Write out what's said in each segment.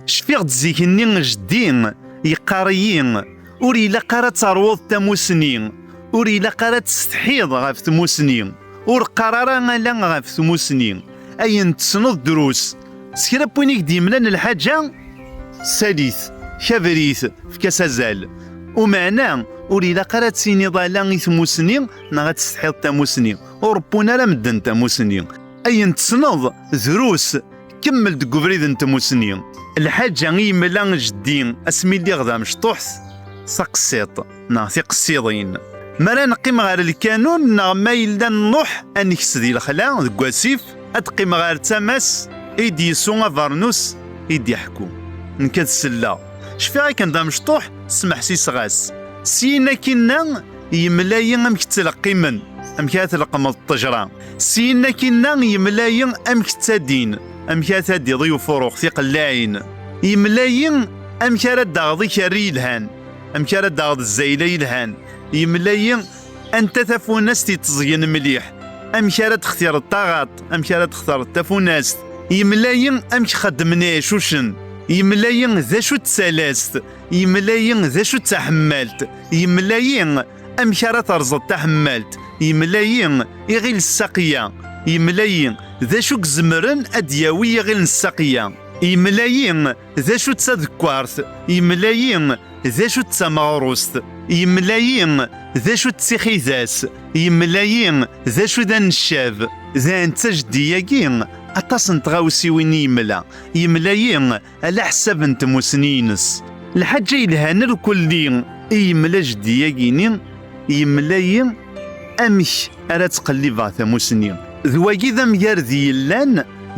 Cfiɣ-d zik-nni jeddi yeqqar-iyi ur ilaq ara ad teṛwuḍ tamusni, ur ilaq ara ad tessetḥiḍ ɣef tmusni, ur qqar ara ala ɣef tmusni, ayen tessneḍ drus, s kra n win i k-d-yemlan lḥaǧa sali-t, kaber-it, efk-as azal. Umeɛna, ur ilaq ara ad tiniḍ ala i tmusni neɣ ad tessetḥiḍ tamusni, ur ṛebbun ara medden tamusni, ayen tessneḍ drus, Kemmel deg ubrid n tmusni. Lḥaǧa i yemla jeddi asmi lliɣ d amecṭuḥt, taqsiḍt neɣ tiqsiḍin. Mi ara neqqim ɣer lkanun neɣ ma yella nruḥ ad nekes di lexla deg wasif, ad qqimeɣ ɣer tama-s i d-yessu abernus i d-iḥku. Nekk ad selleɣ. Cfiɣ akken d amecṭuḥ, smeḥsiseɣ-as. Syin akkinna, yemla-yi amek ttleqqimen, amek ara tleqqmeḍ ṭṭejra. Syin akinna yemla-yi amek ttadin, amek ara tadiḍ i ufuruɣ tiqellaɛin. Yemla-yi amek ara d-aɣeḍ ikerri yelhan, amek ara d-aɣeḍ zzayla yelhan. Yemla-yi anta tafunast itteẓgen mliḥ, amek ara d-xtireḍ taɣaṭ, amek ara d-xtireḍ tafunast. Yemla-yi amek xeddmen iɛicucen. Yemla-yi d acu d talast. Yemla-yi d acu d taḥemmalt. Yemla-yi amek ara terẓeḍ taḥemmalt. Yemla-yi iɣil ssaqiya. Yemla-yi d acu izemren ad d-yawi iɣil n ssaqiya. Yemla-yi d acu d tadekkart. Yemla-yi d acu d tameɣrust. Yemla-yi d acu d tixidas. Yemla-yi d acu d aneccab. Dayen d tajeddi-agi, aṭas n tɣawsiwin i yemla. Yemla-yi ala ḥsab n tmussni-ines. Lḥaǧa yelhan irkelli i yemla jeddi-agi-ni, yemla-yi amek ara ttqellibeɣ tamussni. D wagi d amgarad yellan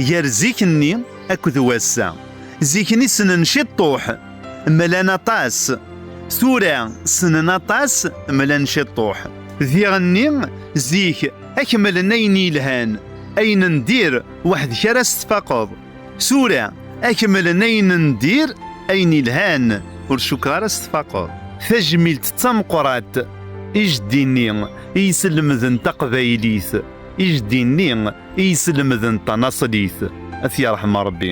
gar zik-nni akked wass-a. Zik-nni ssnen ciṭṭuḥ, mlan aṭas. Tura ssnen aṭas, mlan ciṭṭuḥ. Diɣ-nni zik akmlen ayen yelhan, ayen n dir weḥd-k ara s-tfaqeḍ. Sura, akemmelen ayen n dir, ayen ilhan, ur cukkeɣ ara s tfaqeḍ. Tajmilt d tameqrat, ijddi-nni i iselmden taqbaylit, ijddi-nni i iselmden tanaṣlit, ad t-yerḥem Rebbi.